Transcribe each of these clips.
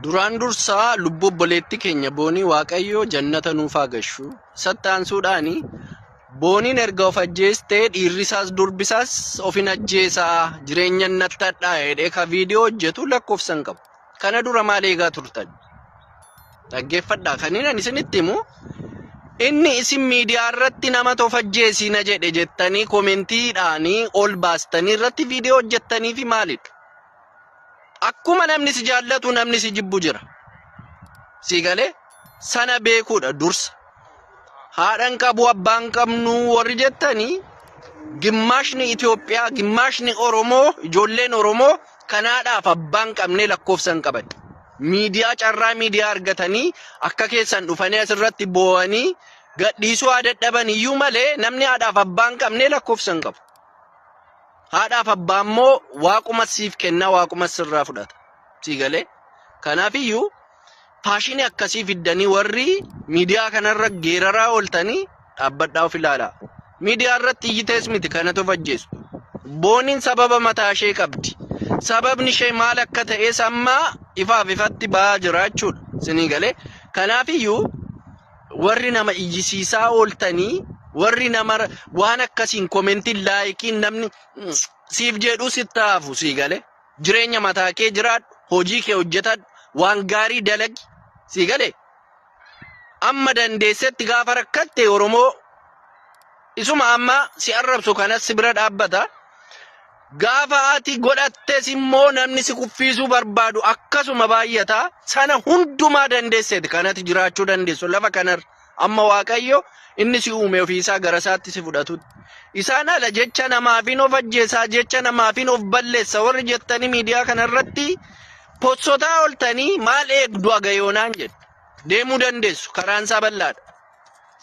Duraan dursaa lubbuu obboleetti keenya boonii waaqayyoo jannata nuuf haa gashu. Isatti aansuudhaan booniin erga of ajjeestee dhiirrisaas durbisaas ofin ajjeesaa jireenya nattadhaa jedhee ka viidiyoo hojjetu lakkoofsan qabu. Kana dura maal eegaa turtan? Dhaggeeffadhaa. Kan inni isinitti himu inni isin miidiyaa irratti nama tofajjeesiina jedhe jettanii komentiidhaanii ol baastanii irratti viidiyoo hojjettanii fi maalidha? Akkuma namni si jaallatu namni si jibbu jira. Si galee sana beekuudha dursa. haadhan qabu abbaan qabnu warri jettanii gimmaashni Itoophiyaa gimmaashni Oromoo ijoolleen Oromoo kanaadhaaf abbaan qabnee lakkoofsa hin qaban. Miidiyaa carraa miidiyaa argatanii akka keessan dhufanii asirratti boo'anii gadhiisuu haa dadhaban iyyuu malee namni haadhaaf abbaan qabnee lakkoofsa hin qabu. Haadhaaf abbaa immoo waaquma siif kenna waaquma sirraa fudhata. Sii galee? Kanaafiyyuu Faashinii akkasii fiddanii warri miidiyaa kanarra geeraraa ooltanii dhaabbadhaa of ilaala. Miidiyaa irratti iyyitees miti kanatu of ajjeesu. Booniin sababa mataa ishee qabdi. Sababni ishee maal akka ta'es amma ifaaf ifatti ba'aa jira jechuudha. Sinii galee. Kanaafiyyuu warri nama iyyisiisaa ooltanii warri nama waan akkasiin komentiin laayikiin namni siif jedhu sitti haafu sii galee. Jireenya mataa kee jiraadhu, hojii kee hojjetadhu, waan gaarii dalagi. Sii gale? Amma dandeessetti gaafa rakkatte Oromoo isuma amma si arrabsu kanas si bira dhaabbata. Gaafa ati godhattes immoo namni si kuffiisuu barbaadu akkasuma baay'ata. Sana hundumaa dandeesseeti kan ati jiraachuu dandeessu lafa kanarra. Amma Waaqayyo inni si uume ofiisaa garasaatti si fudhatutti. Isaan ala jecha namaafin of ajjeesaa, jecha namaafin of balleessa warri jettanii miidiyaa kanarratti possotaa oltanii maal eegdu agayoonaan jedhu. Deemuu dandeessu karaan isaa bal'aadha.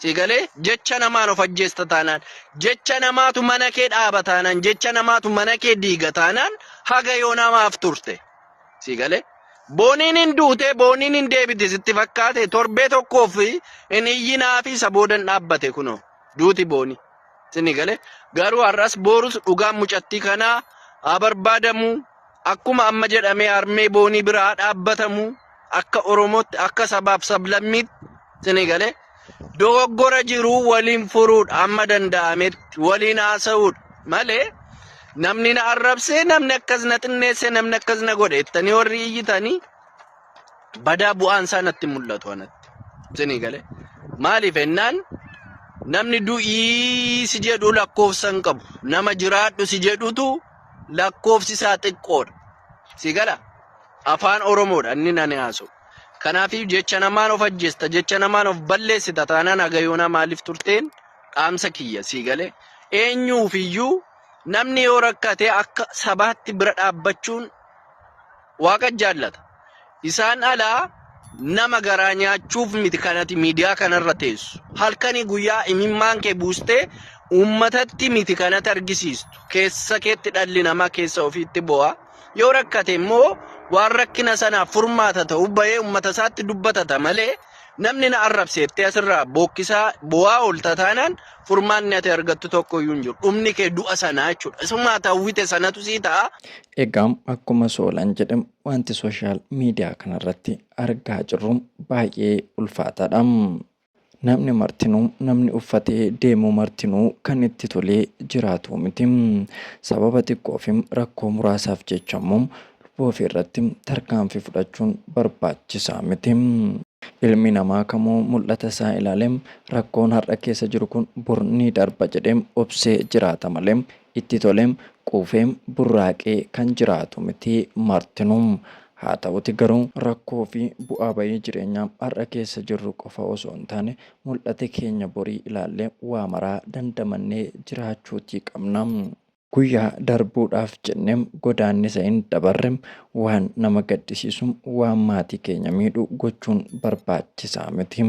Si galee jecha namaan of ajjeesta taanaan, jecha namaatu mana kee dhaaba taanaan, jecha namaatu mana kee diiga taanaan haga yoonaa maaf turte? Si galee? Booniin hin duute, booniin hin deebite sitti fakkaate torbee tokkoof hin iyyinaa fi isa booda hin dhaabbate kunoo duuti boonii. Sini galee? Garuu har'as boorus dhugaan mucattii kanaa haa barbaadamu. Akkuma amma jedhamee harmee boonii bira haa dhaabbatamu. Akka Oromootti, akka sabaaf sablammiitti sini galee? dogoggora jiru waliin furuudha amma danda'ametti waliin haasa'uudha malee namni na arrabsee namni akkas na xinneesse namni akkas na godhe jettanii warri iyyitanii badaa bu'aan isaa natti hin mul'atu anatti isinii galee maaliif ennaan namni du'ii si jedhu lakkoofsa hin qabu nama jiraadhu si jedhutu lakkoofsi isaa xiqqoodha si gala afaan oromoodha inni nani haasa'u Kanaafiyyuu jecha namaan of ajjeesta, jecha namaan of balleessita taanaan haga yoonaa maaliif turteen dhaamsa kiyya sii galee. Eenyuufiyyuu namni yoo rakkate akka sabaatti bira dhaabbachuun waaqa jaallata. Isaan alaa nama garaa nyaachuuf miti kanati miidiyaa kanarra teessu. Halkanii guyyaa imimmaan kee buustee uummatatti miti kanatti argisiistu. Keessa keetti dhalli namaa keessa ofiitti bo'a. Yoo rakkate immoo waan rakkina sanaaf furmaata ta'u bahee ummata isaatti dubbatata malee namni na arrabseettee asirraa bookkisaa bu'aa oolta taanaan furmaanni ati argattu tokko iyyuu hin jiru. Dhumni kee du'a sanaa jechuudha. Isumaa hawwite sanatu sii ta'a. Egaa akkuma Soolan jedhe wanti sooshaal miidiyaa kanarratti argaa jirru baay'ee ulfaataadha. Namni martinuu, namni uffatee deemu martinuu kan itti tolee jiraatuu miti. Sababa xiqqoofim rakkoo muraasaaf jecha immoo lubbuu ofii irratti tarkaanfii fudhachuun barbaachisaa miti. Ilmi namaa kamuu mul'ata isaa ilaaleem rakkoon har'a keessa jiru kun bor ni darba jedheem obsee jiraata malee itti toleem quufeem burraaqee kan jiraatu miti martinuu. Haa ta'uti garuu rakkoo fi bu'aa ba'ii jireenyaa har'a keessa jirru qofa osoo hin taane mul'ate keenya borii ilaallee waa maraa dandamannee jiraachuutii qabna. Guyyaa darbuudhaaf jennee godaannisa hin dabarre, waan nama gaddisiisu, waan maatii keenya miidhu gochuun barbaachisaa miti.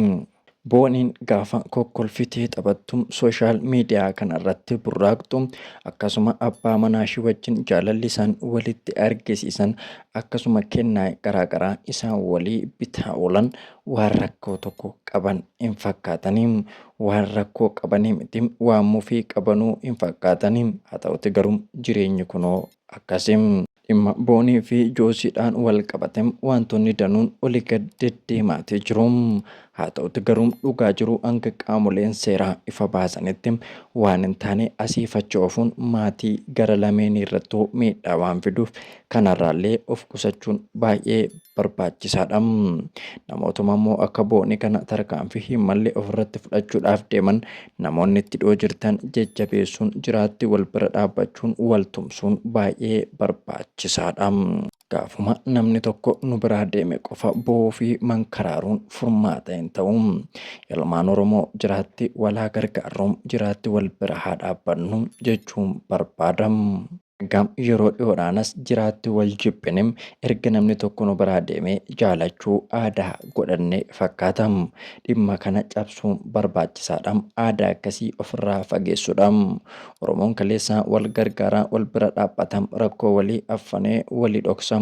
Booniin gaafa kokkolfitee taphattu, sooshaal miidiyaa kanarratti burraaqxu, akkasuma abbaa manaashii wajjin jaalalli isaan walitti argisiisan, akkasuma kennaa garaagaraa isaan walii bitaa oolan waan rakkoo tokko qaban hin fakkaatanii. Waan rakkoo qabanii miti, waan mufii qabanuu hin fakkaatanii. Haa ta'uti garuu jireenyi kunoo akkasii. Dhimma Boonii fi Joosiidhaan walqabate waantonni danuun oli gad deddeemaati jiru. Haa ta'uti garuu dhugaa jiru hanga qaamoleen seeraa ifa baasanitti waan hin taane asiif achi oofuun maatii gara lameenii irrattuu miidhaa waan fiduuf kanarraallee of qusachuun baay'ee barbaachisaadha. Namootuma immoo akka Boonii kana tarkaanfii hin malle ofirratti fudhachuudhaaf deeman Namoonni itti dhiyoo jirtan jajjabeessuun, jiraatti wal bira dhaabbachuun, wal tumsuun baay'ee barbaachisaadha. Gaafuma namni tokko nu biraa deeme qofa boo'uu fi mankaraaruun furmaata hin ta'u. Ilmaan Oromoo jiraatti wal haa gargaarru, jiraatti wal bira haa dhaabbannu jechuun barbaada. Hangam yeroo dhihoodhaanas jiraatti wal jibbinim erga namni tokko nu biraa deemee jaalachuu aadaa godhanne fakkaata. Dhimma kana cabsuun barbaachisaadha. Aadaa akkasii ofirraa fageessuudha. Oromoon kaleessa wal gargaara, wal bira dhaabbata, rakkoo walii affanee walii dhoksa.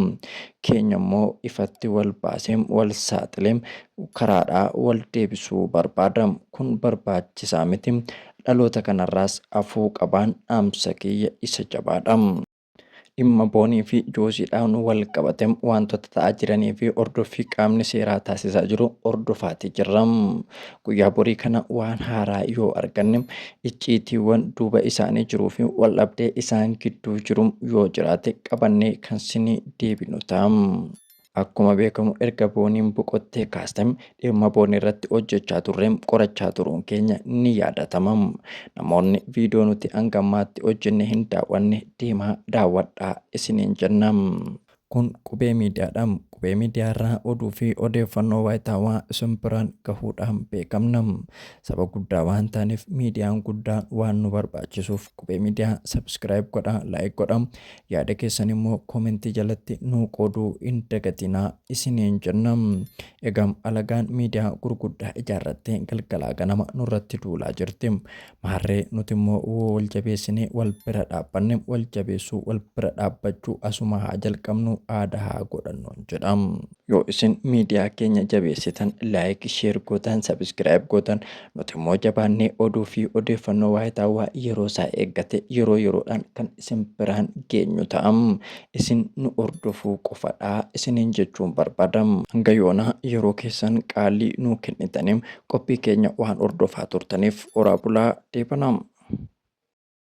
Keenya immoo ifatti wal baasee, wal saaxilee karaadhaa wal deebisuu barbaada. Kun barbaachisaa miti. Dhaloota kanarraas hafuu qabaan dhaamsa kiyya isa jabaadha. Dhimma Boonii fi Jooziidhaan wal qabate waantota ta'aa jiranii fi hordoffii qaamni seeraa taasisaa jiru hordofaatii jirra. Guyyaa borii kana waan haaraa yoo arganne, icciitiiwwan duuba isaanii jiruu fi waldhabdee isaan gidduu jiru yoo jiraate qabannee kan sinii deebinu ta'a. Akkuma beekamu erga Booniin boqottee kaasee dhimma Boonii irratti hojjechaa turre qorachaa turuun keenya ni yaadatama. Namoonni viidiyoo nuti hanga ammaatti hojjenne hin daawwanne deemaa daawwadhaa isiniin jenna. Kun Qubee Miidiyaadha. Qubee Miidiyaa irraa oduu fi odeeffannoo waayitaawaa isin biraan gahuudhaan beekamna. Saba guddaa waan taaneef miidiyaan guddaan waan nu barbaachisuuf Qubee Miidiyaa subscribe godhaa, like godhaa, Yaada keessan immoo comment jalatti nuu qooduu hin dagatinaa isiniin jenna. Egaa alagaan miidiyaa gurguddaa ijaarrattee galgalaa ganama nurratti duulaa jirti. Maarree nuti immoo woo wal jabeessinee wal bira dhaabbanne wal jabeessuu wal bira dhaabbachuu asuma haa jalqabnu aadaa haa godhannuun jedha. Yoo isin miidiyaa keenya jabeessitan, like, share gootan, subscribe gootan, nuti immoo jabaannee oduu fi odeeffannoo waayitaawaa yeroo isaa eeggate yeroo yeroodhaan kan isin biraan geenyu ta'a. Isin nu hordofuu qofadha isiniin jechuun barbaada. Hanga yoonaa yeroo keessan qaalii nuu kennitanii qophii keenya waan hordofaa turtaniif horaa bulaa deebanaa.